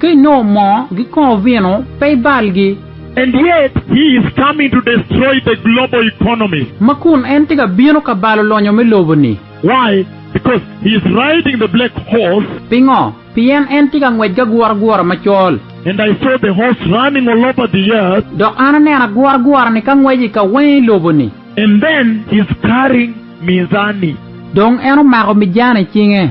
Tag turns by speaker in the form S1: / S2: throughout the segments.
S1: Ka
S2: inongo moo, gikongo vino, pe ibalgi. And yet,
S1: he is coming to destroy the global economy. Ma kun en tye ka
S2: bino ka balo lonyo me lobo-ni. Why?
S1: Because he is riding the black horse. Pingo? Pien
S2: en tye ka ngwec ki aguragura macol. And I saw the
S1: horse running all over the earth. Dok an aneno
S2: aguragura-ni ka ngweco i kawenge i lobo-ni. And then he
S1: is carrying mizani. Dong en
S2: omako mizani i cinge.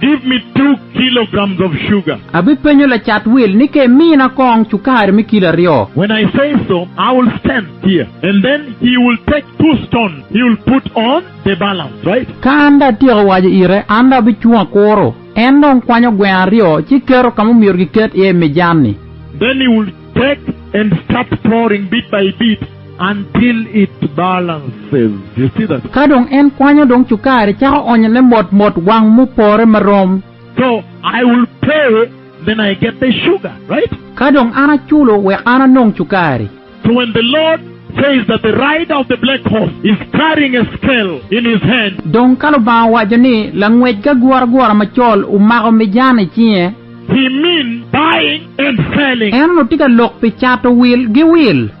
S1: Give me two kilograms of sugar. Abipenyo lacat
S2: wil ni ka imina kong cukari me kilo aryo. When I say so,
S1: I will stand here and then he will take two stones, he will put on the balance, right? Ka an dong atyeko
S2: waco ite, an dong abicung akuro. En dong kwanyo gweno aryo ci keto ka ma omyero giket iye i mijan-ni. Then he will
S1: take and start pouring bit by bit. until it balances, you see that. Ka dong en kwanyo
S2: dong cukari cako onyone mot mot wang mupore marom. So I
S1: will pay then I get the sugar, right? Ka dong an aculo
S2: wek an anong cukari. So when the Lord
S1: says that the rider of the black horse is carrying a scale in his hand. Dong ka Lubanga owaco
S2: ni langwec ki aguragura macol omako mijan i cinge. He mean
S1: buying and selling. En onongo tye ka lok pi
S2: cato wil gi wil.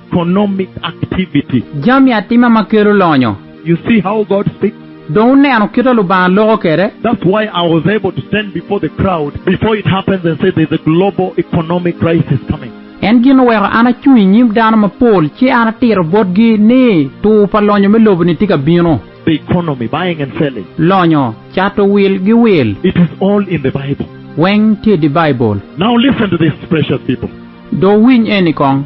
S2: Economic
S1: activity. Jami atima ma
S2: kelo lonyo. You see how God
S1: speaks? Dong wuneno kit ma
S2: Lubanga loko kwede? That's why I was
S1: able to stand before the crowd before it happens and say there's a global economic crisis coming. En gin oweko
S2: an acung i nyim dano mapol ci an atito botgi ni tur pa lonyo me lobo-ni tye ka bino. The economy,
S1: buying and selling. Lonyo, cato
S2: wil gi wil. It is all in the
S1: Bible. Weng tye i di
S2: Baibul. Now listen to this,
S1: precious people. Do wuwiny
S2: eni kong.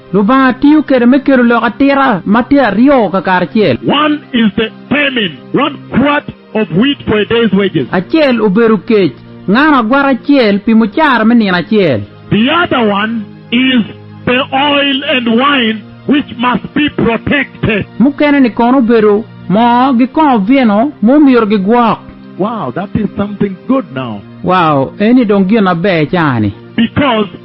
S1: Lubanga
S2: tiyo kede me kelo lok atira ma tye aryo kakaracel. One is the
S1: famine, one quart of wheat for a day's wages. Acel obedo
S2: kec, ngano agwata acel pi mucara me nino acel. The other one
S1: is the oil and wine which must be protected. Mukene-ni kono
S2: obedo moo gi kongo vino ma omyero gigwok. Wow, that is
S1: something good now. Wow, eni
S2: dong gin maber caa-ni. Because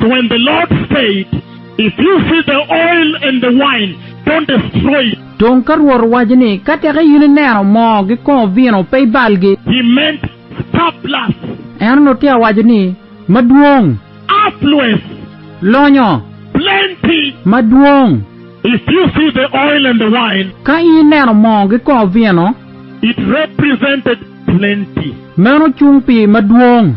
S2: When the
S1: Lord said, If you see the oil and the wine, don't destroy it. Dong ka Rwot owaco
S2: ni, Ka tek in ineno moo gi kongo vino, pe ibalgi. He meant
S1: surplus. En onongo tye
S2: ka waco ni, Madwong. Affluence.
S1: Lonyo.
S2: Plenty.
S1: Madwong.
S2: If you
S1: see the oil and the wine. Ka in ineno moo
S2: gi kongo vino. It
S1: represented plenty. Meno cung
S2: pi madwong.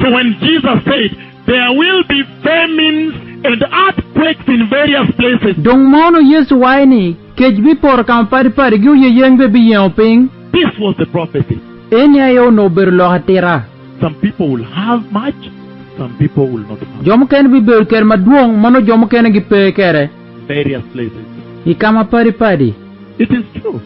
S2: So when
S1: Jesus said, There will be famines and earthquakes in various places. Dong mono Yecu
S2: waco ni, kec bipoto ka mapadi padi, gi oyeyeng bene biyengo piny? This was the
S1: prophecy. Eni aye onongo
S2: obedo lok atita. Some people will
S1: have much, some people will not have. Jo mukene bibedo kede
S2: madwong, ma nongo jo mukene gipe kede. Various places.
S1: I ka mapadi
S2: padi. It is true.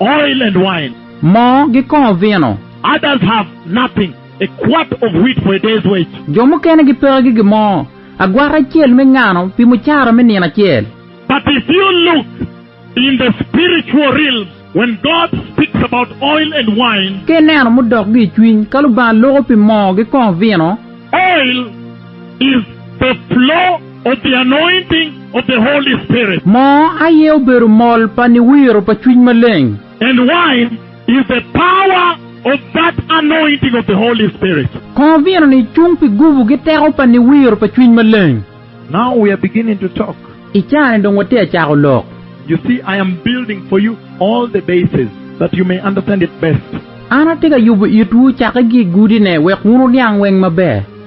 S2: oil and wine.
S1: Moo gi kongo
S2: vino. Others have
S1: nothing, a quart of wheat for a day's wage. Jo mukene gipeke
S2: ki gimo, agwata acel me ngano pi mucara me nino acel. But if you
S1: look in the spiritual realm when God speaks about oil and wine. Ka ineno mudok gi
S2: i cwiny ka Lubanga loko pi moo gi kongo vino. Oil
S1: Is the flow of the anointing of the Holy Spirit. Mo aye
S2: obedo mol pa niwiro pa Cwiny Maleng. And wine
S1: is the power of that anointing of the Holy Spirit. Kongo vino ni
S2: cung pi gubu gi teko pa niwiro pa Cwiny Maleng. Now we are
S1: beginning to talk. I caa ni dong watye
S2: a cako lok. You see I am
S1: building for you all the bases that you may understand it best. An atye ka yubu
S2: itwu cake gi i gudi ne wek wun wuniang weng maber.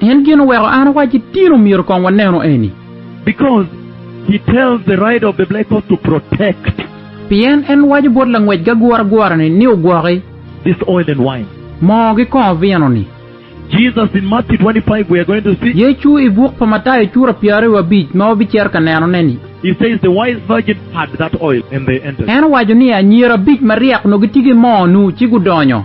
S1: Pien gin oweko an
S2: awacci tin omyero kong wanenu eni.
S1: Pien en
S2: waco bot langwec gaguragura-ni ni ogwoki
S1: moo ki kongo
S2: vino-ni.
S1: Yecu i buk pa
S2: Matayo cura pyeraryo abic ma wabicito ka nenone-ni,
S1: en owaco ni anyira
S2: abic maryek onongo gitye ki moo-nu ci gudonyo.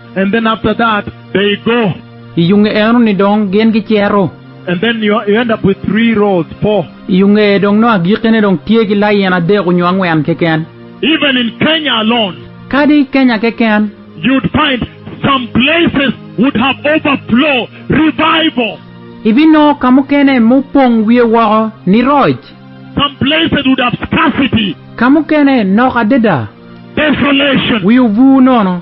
S2: And then after
S1: that they go. I yo nge enoni
S2: dong gin gicito. And then you you
S1: end up with three rows, four. I yo nge dong nongo
S2: agikkine dong tye ki lain adek onyo angwen keken. Even in Kenya
S1: alone. Kadi i Kenya
S2: keken. You'd find
S1: some places would have overflow, revival. Ibinongo
S2: ka mukene ma opong wiye woko ni roc. Some places
S1: would have scarcity. Ka mukene
S2: nok adada. Desolation.
S1: Wi obur nono.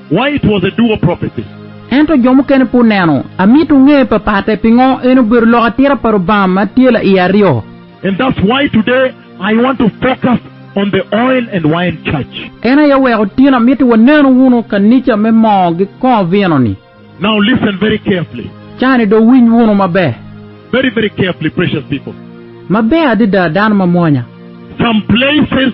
S1: Why it was a duo prophecy. Ento jo mukene
S2: pe oneno. Amito wunge papatte pingo en obedo lok atira pa Lubanga ma tye la i aryo. And that's why
S1: today I want to focus on the oil and wine church. En aye oweko otyeno
S2: amiti wanenu wunu kanica me moo gi kongo vino ni. Now listen very
S1: carefully. Ca ni do winy
S2: wunu maber. Very very carefully
S1: precious people. Maber adada
S2: dano mamwonya. Some
S1: places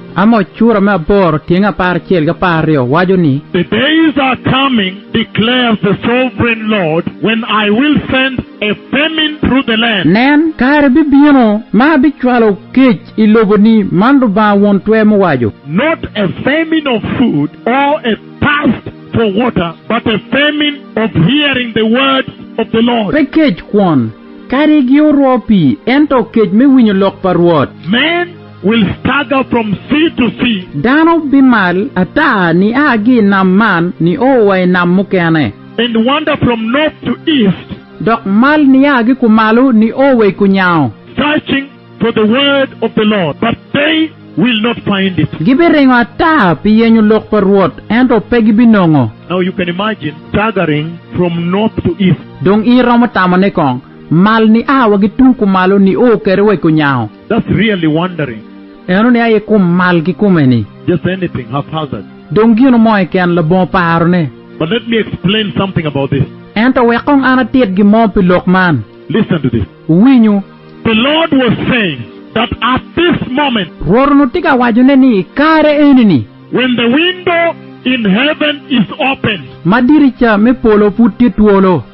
S1: Amoc cura me
S2: aboro tyeng apar acel ki apar aryo waco ni. The days are
S1: coming, declares the Sovereign Lord, when I will send a famine through the land. Nen, kare bibino
S2: ma abicwalo kec i lobo-ni, man Lubanga Won Twer muwaco. Not a
S1: famine of food, or a thirst for water, but a famine of hearing the words of the Lord. Pe kec kwon,
S2: kadi gioorwo pii, ento kec me winyo lok pa Rwot. Man. will
S1: stagger from sea to sea. Dano bimal
S2: ata nia ki i nam man nio wa i nam mukene. And wander from
S1: north to east. Dok mal
S2: nia ki kumalo nio wa i kunyango. Searching
S1: for the word of the Lord, but they will not find it. Gibiringo ata
S2: pi yenyo lok pa Rwot, ento pe gibinongo. Now you can imagine
S1: staggering from north to east. Dong in iromo
S2: tamone kong? Mal nia wa ki tung kumalo nio kede wa i kunyango. That's really
S1: wondering. Eno ni aye
S2: kum mal kikume ni. Just anything
S1: haphazard. Dong gino mo
S2: keken labongo paro ne. But let me explain
S1: something about this. Ento wek kong an
S2: atit gin mo pi lok man. Listen to this.
S1: Wuwinyu.
S2: The Lord
S1: was saying that at this moment. Rwot onongo tye ka waco
S2: ne ni i kare eni ni. When the window
S1: in heaven is opened. Ma dirica me
S2: polo pud tye twolo.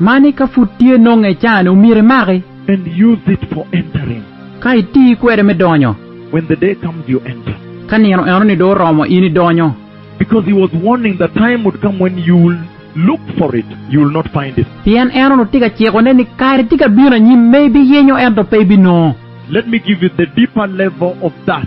S1: Mani ka pud tye
S2: nonge icane omyero imaki. And use it
S1: for entering. Ka iti
S2: kwede me donyo. When the day comes
S1: you enter. Ka nino enoni dong
S2: oromo in idonyo. Because he was
S1: warning the time would come when you will look for it, you will not find it. Pien en onongo tye ka
S2: cikone ni kare tye ka bino anyim ma ibiyenyo ento pe ibinongo. Let me give you
S1: the deeper level of that.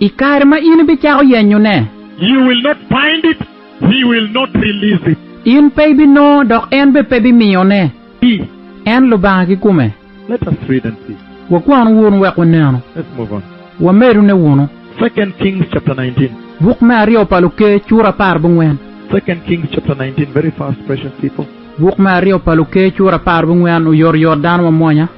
S1: I kare ma in
S2: ibicako yenyone. You will not
S1: find it, He will not release it. In pe ibinongo,
S2: dok en bene pe bimiyone. I. En
S1: Lubanga
S2: kikome. Let us read and
S1: see. Wakwan wunu wek
S2: wunenu. Let's move on.
S1: Wamedune wunu.
S2: Second Kings
S1: chapter nineteen. Buk me aryo pa
S2: Luker cura apar bungwen. Second Kings
S1: chapter nineteen, very fast precious people. Buk me aryo pa
S2: Luker cura apar bungwen, Oyotoyot dano mamwonya.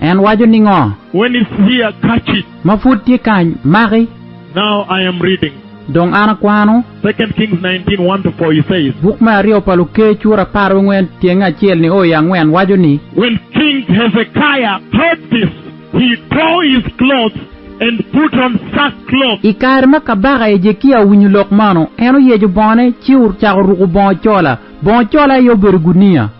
S1: En waco ningo?
S2: When is
S1: he a
S2: catch it?
S1: Ma pud tye kany,
S2: maki.
S1: Now
S2: I am
S1: reading.
S2: Dong an akwano. Second Kings nineteen,
S1: one to four, he says. Buk me aryo pa Luker
S2: cura apar wi angwen tyenge acel ni o i angwen waco ni. When King
S1: Hezekiah heard this, he tore his clothes and put on sackcloth. I kare ma kabaka
S2: Hejekia owinyo lok manu, en oyeco bongone ci ocako ruko bongo cola. Bongo cola aye obedo guniya.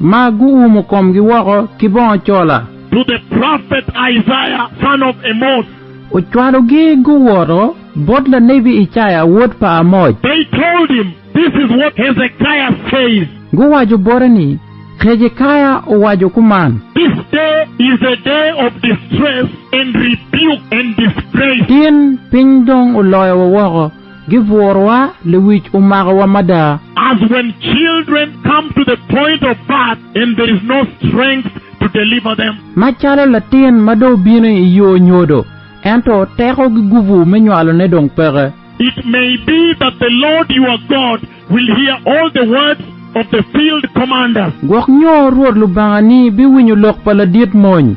S2: Ma guumo komgi woko ki bongo cola. To the prophet
S1: Isaiah, son of Amoz. Ocwalogi
S2: guwoto bot lanebi Icaya wod pa Amoz. They told him,
S1: This is what Hezekiah says. Guwaco bote
S2: ni, Hezekaya owaco kuman. This day
S1: is a day of distress and rebuke and disgrace. In piny
S2: dong oloyowa woko. Giburowa, lewic omakowa mada. As when
S1: children come to the point of birth and there is no strength to deliver them. Macalo latin
S2: ma dong obino i yo nyodo, ento teko gigubu me nywalone dong peke. It may be
S1: that the Lord your God will hear all the words of the field commander. Gwok nyo Rwot
S2: Lubangani biwinyo lok pa ladit mony.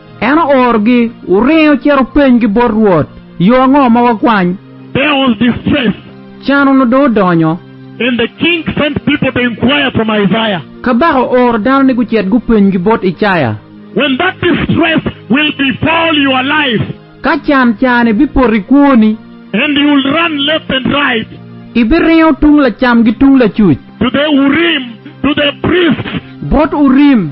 S1: En oorogi
S2: oringo cito openygi bot Rwot, Yo ango ma wakwany? There was
S1: distress. Can onongo dong
S2: odonyo. And the king
S1: sent people to inquire from Isaiah. Kabaka ooro
S2: dano ni gucit gupenygi bot Icaya. When that
S1: distress will befall your life. Ka can
S2: ca-ni bipoto i kwoni. And you will
S1: run left and right. Ibiringo
S2: tung lacam ki tung lacuc. To the Urim,
S1: to the priests. Bot Urim.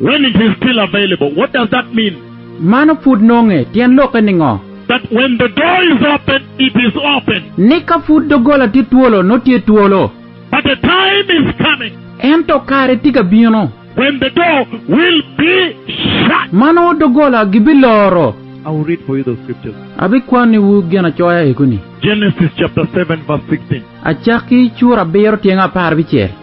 S2: When it is still
S1: available, what does that mean? Mano pud
S2: nonge tyen lokke ningo? That when the
S1: door is open, it is open. Ni ka pud
S2: doggola tye twolo, nongo tye twolo. But a time
S1: is coming. Ento kare
S2: tye ka bino. When the door
S1: will be shut. Ma nongo doggola
S2: gibiloro. I will read for you
S1: the scriptures. Abikwaniwu
S2: ginacoya eko-ni. Genesis chapter
S1: seven verse sixteen. Acakki cura
S2: abiro tyenge apar bicel.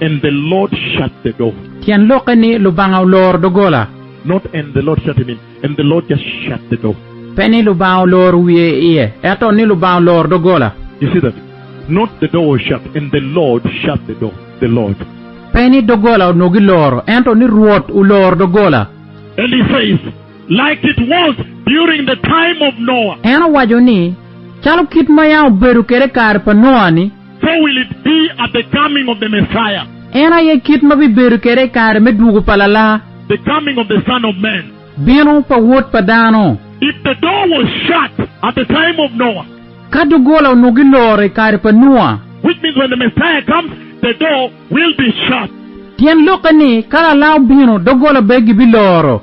S1: And the
S2: Lord
S1: shut
S2: the
S1: door. Tyen
S2: lokke ni Lubanga oloro doggola. Not and the Lord
S1: shut it in, and the Lord just shut the door. Pe ni Lubanga
S2: oloro wiye iye, ento ni Lubanga oloro doggola. You see that?
S1: Not the door was shut, and the Lord shut the door. The Lord. Pe ni doggola
S2: onongo giloro, ento ni Rwot oloro doggola. And he says,
S1: Like it was during the time of Noah. En owaco ni,
S2: Calo kit ma yam obedo kwede i kare pa Noa-ni. How will it be
S1: at the coming of the Messiah? En aye kit ma
S2: bibedo kwede i kare me dwogo pa Lala. The coming of the
S1: Son of Man? Bino pa Wod
S2: pa dano. If the door was
S1: shut at the time of Noah? Ka doggola onongo
S2: giloro i kare pa Nua. Which means when the Messiah
S1: comes, the door will be shut. Tyen lokke
S2: ni, ka Lala obino, doggola bene gibiloro.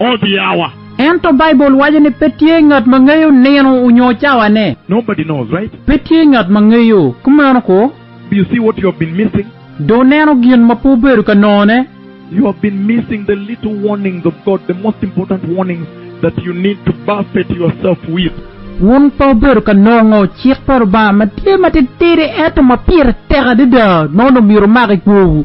S1: ot yawa. Ento Baibul
S2: waco ni pe tye ngat ma ngeyo nino onyo cawane. Nobody knows, right?
S1: Pe tye ngat ma ngeyo,
S2: kumeno ko. Do you see what you have
S1: been missing? Do wuneno gin
S2: ma pe wubedo ka nongone? You have been
S1: missing the little warnings of God, the most important warnings that you need to buffet yourself with. Wun pe
S2: wubedo ka nongo cik pa Lubanga ma tye matitidi ento ma pire tek adada ma wun omyero wumak i kwowu.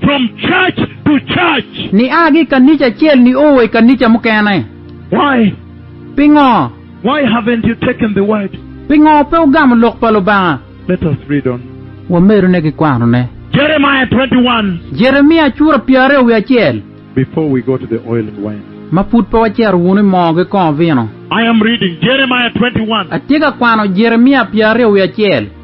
S2: From church
S1: to church. Nia ki i kanica
S2: acel nio wa i kanica mukene. Why?
S1: Pingo?
S2: Why haven't
S1: you taken the word? Pingo pe wugamo
S2: lok pa Lubanga? Let us read on.
S1: Wamedone ki
S2: kwanone. Jeremiah twenty
S1: one. Jeremia cura
S2: pyararyo wiye acel. Before we go to
S1: the oil and wine. Ma pud pe wacito
S2: wunu i moo ki kongo vino. I am reading
S1: Jeremiah twenty one. Atye ka kwano
S2: Jeremia pyararyo wiye acel.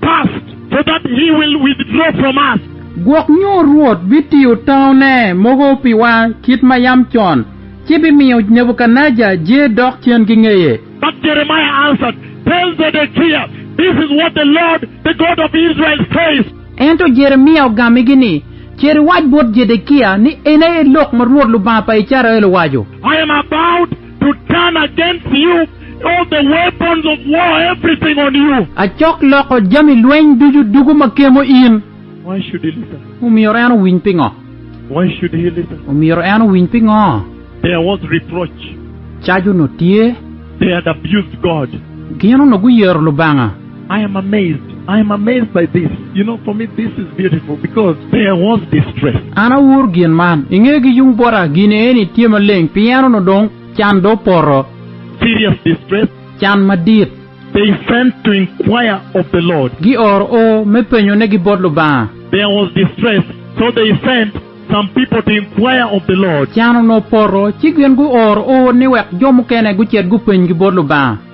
S1: past so that he will withdraw from us. Gwok nyo
S2: Rwot bitiyo taune mogo piwa kit ma yam con, ci bimiyo Nebukadnejar je dok cen ki ngeye. But Jeremiah
S1: answered, Tell Zedekiah, This is what the Lord, the God of Israel, says. Ento Jeremia
S2: ogammigi ni, Cer iwac bot Jedekia ni, 'En aye lok ma Rwot Lubanga pa Icrael owaco. I am about
S1: To turn against you all the weapons of war, everything on you. Acok loko
S2: jami lweny ducu dugo ma kemo in. Why should he
S1: listen? Omyero en owiny
S2: pingo? Why should he
S1: listen? Omyero en owiny pingo?
S2: There was
S1: reproach. Cac onongo
S2: tye. They had abused
S1: God. Gin onongo guyero
S2: Lubanga. I am amazed,
S1: I am amazed by this, you know for me this is beautiful because there was distress. An awur gin
S2: man, i nge ki yung bota gin eni tye maleng pien onongo dong can do opoto. Serious
S1: distress. Can madit.
S2: They sent
S1: to inquire of the Lord. Gi oro o
S2: me penyo ne gi bot Lubanga. There was distress,
S1: so they sent some people to inquire of the Lord. Can onongo opoto,
S2: ci gin gu oro o ni wek jo mukene gucit gupeny gi bot Lubanga.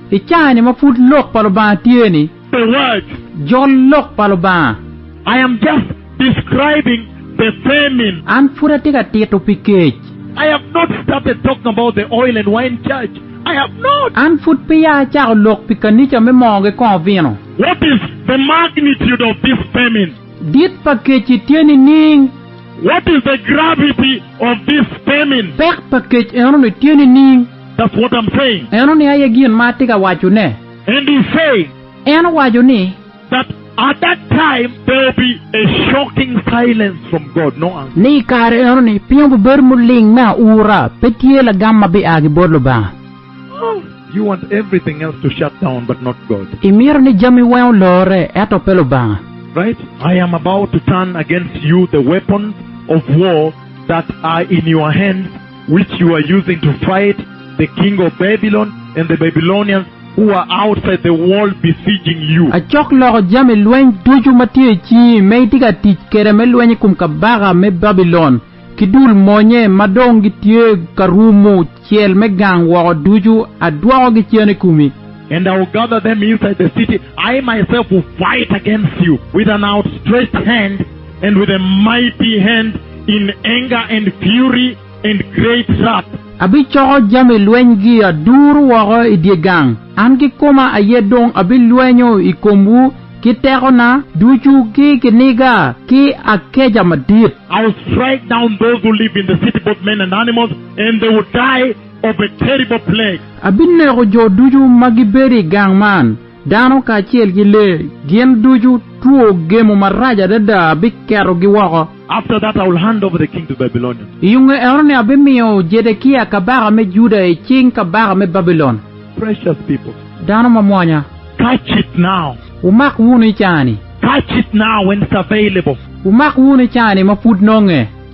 S2: I caa-ni ma pud Lok pa Lubanga tye-ni, The word.
S1: jol Lok
S2: pa Lubanga. I am just
S1: describing the famine. An pud atye ka
S2: tito pi kec. I have not
S1: started talking about the oil and wine church. I have not. An pud peya
S2: acako lok pi kanica me moo ki kongo vino. What is the
S1: magnitude of this famine? Dit pa
S2: kec-ci tye nining? What is the
S1: gravity of this famine? Pek pa kec
S2: eno-ni tye nining? That's what I'm saying.
S1: Eno ni aye gin ma
S2: atye ka wacone. And he's saying.
S1: En owaco ni.
S2: That at
S1: that time there will be a shocking silence from God, no answer. Ni i kare eno ni
S2: pingo bibedo muling me aura, pe tye lagam ma bia ki bot Lubanga. Oh,
S1: you want everything else to shut down but not God. Imito ni jami weng
S2: olorre, ento pe Lubanga. Right? I
S1: am about to turn against you the weapons of war that are in your hands. which you are using to fight the king of Babylon and the Babylonians who are outside the wall besieging you. Acok loko jami
S2: lweny ducu ma tye i cingi ma itye ka tic kwede me lweny i kom kabaka me Babilon ki dul monye ma dong gitye ka rumo cel me gang woko ducu, adwokogi cen i komi. And I will gather
S1: them inside the city, I myself will fight against you with an outstretched hand, And with a mighty hand, in anger and fury, and great wrath. Abicoko
S2: jami lwenygi aduru woko i dye gang, an kikoma aye dong abilwenyo i komwu ki tekona ducu ki kiniga ki akeca madit. I will strike
S1: down those who live in the city, both men and animals, and they will die of a terrible plague. Abineko jo
S2: ducu ma gibedo i gang man. Dano kacel ki lee gin ducu, two gemo marac adada biketogi woko. After that I will hand
S1: over the king to Babylonians. I yunge enoni
S2: abimiyo Jedekia kabaka me Juda i cing kabaka me Babilon. Precious people.
S1: Dano mamwonya.
S2: Catch
S1: it now. Wumak wunu i caa-ni. Catch it now when it's
S2: available. Wumak wunu i caa-ni ma pud nonge.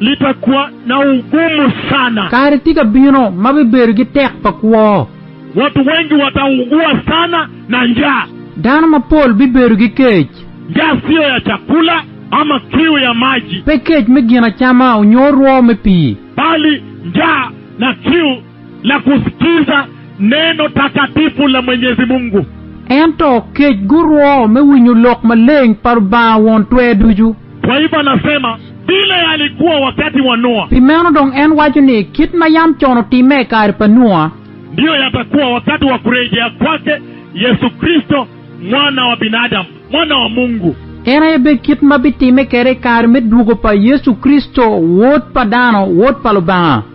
S1: Lita kwa na ugumu sana. Kare tye ka bino
S2: ma bibedo gi tek pa kwo. Wat wengi
S1: wata ugua sana na njaa. Dano mapol
S2: bibedo gi kec. Njaa siyo ya
S1: cakula ama kiu ya maji. Pe kec me gin acama
S2: onyo rwo me pii. Bali njaa
S1: na kiu la kusikiza neno takatifu la Mwenyezi Mungu. Ento
S2: kec gurwo me winyo lok maleng pa Lubanga Won Twer Ducu. Taifa nasema,
S1: Bila ya alikuwa wakati wa Noa. Pi meno dong en waco
S2: ni, Kit ma yam con otimme i kare pa Noa. Ndiyo yatakuwa
S1: wakati wa kurejea kwake Yecu Kricito, Mwana wa binadamu, Mwana wa Mungu. En aye bed kit
S2: ma bitimme kwede i kare me dwogo pa Yecu Kricito, Wod pa dano, Wod pa Lubanga.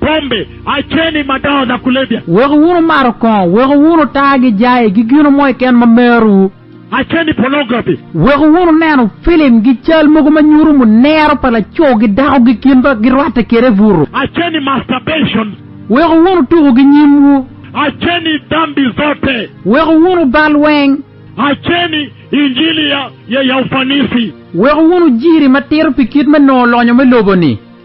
S1: Bombi, aceni madongo na kulebia. Weko wunu mato
S2: kongo. Weko wunu taa gi jai gi gino mo keken ma merowu. Aceni
S1: ponograpi. Weko wunu neno
S2: filim gi cal mogo ma nyuto munero pa laco gi dako gi kin ma girwatte kede butu. Aceni masturbation.
S1: Weko wunu
S2: tuku gi nyimwu. Aceni
S1: dambi zote. Weko wunu bal
S2: weng. Aceni
S1: injili ya ya ufanisi. Weko wunu
S2: jiri matito pi kit me nongo lonyo me lobo ni.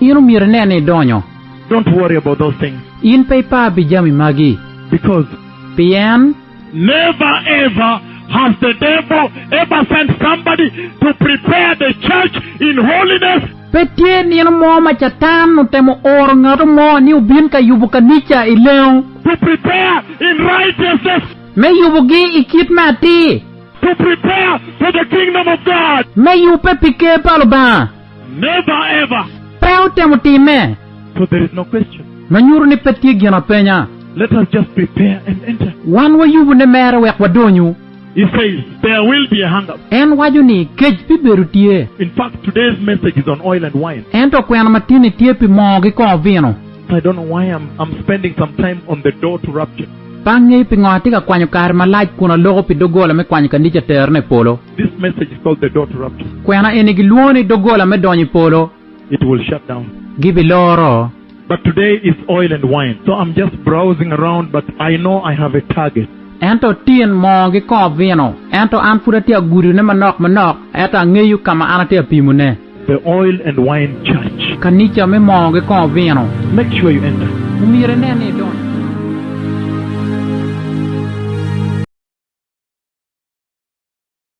S1: In omyero inen ni
S2: idonyo. Don't worry about
S1: those things. In pe ipar pi
S2: jami magi. Because.
S1: Pien.
S2: Never
S1: ever has the devil ever sent somebody to prepare the church in holiness. Pe tye nino
S2: mo ma Catan otemo oro ngatu mo ni obin ka yubo kanica i lengo. To prepare
S1: in righteousness. Me yubogi
S2: i kit me atir. To prepare
S1: for the kingdom of God. Me yubbe pi ker
S2: pa Lubanga. Never
S1: ever! Pe otemo
S2: time. For there is no
S1: question. Ma nyuto ni pe tye
S2: gin apenya. Let us just
S1: prepare and enter. Wan wayubu ne
S2: mere wek wadonyu. He says,
S1: There will be a hunger. En waco ni,
S2: Kec bibedo tye. In fact, today's
S1: message is on oil and wine. Ento kwena ma tinni
S2: tye pi moo ki kor vino. I don't know why I'm,
S1: I'm spending some time on the door to rapture. Pe angeyo pingo atye
S2: ka kwanyo kare malac kun aloko pi doggola me kwanyo kanica terone i polo. This message is called
S1: the door to rapture. Kwena eni gilwongo
S2: ni doggola me donyo i polo. It will shut
S1: down. Gibiloro.
S2: But today
S1: it's oil and wine. So I'm just browsing around but I know I have a target. Ento tin
S2: moo gi kongo vino. Ento an pud atye agudo ne manok manok, eto angeyo ka ma an atye apimo ne. The oil and
S1: wine church.
S2: Kanica
S1: me
S2: moo
S1: gi
S2: kongo
S1: vino.
S2: Make sure
S1: you enter. Omyero
S2: inen
S1: ni
S2: idonyo.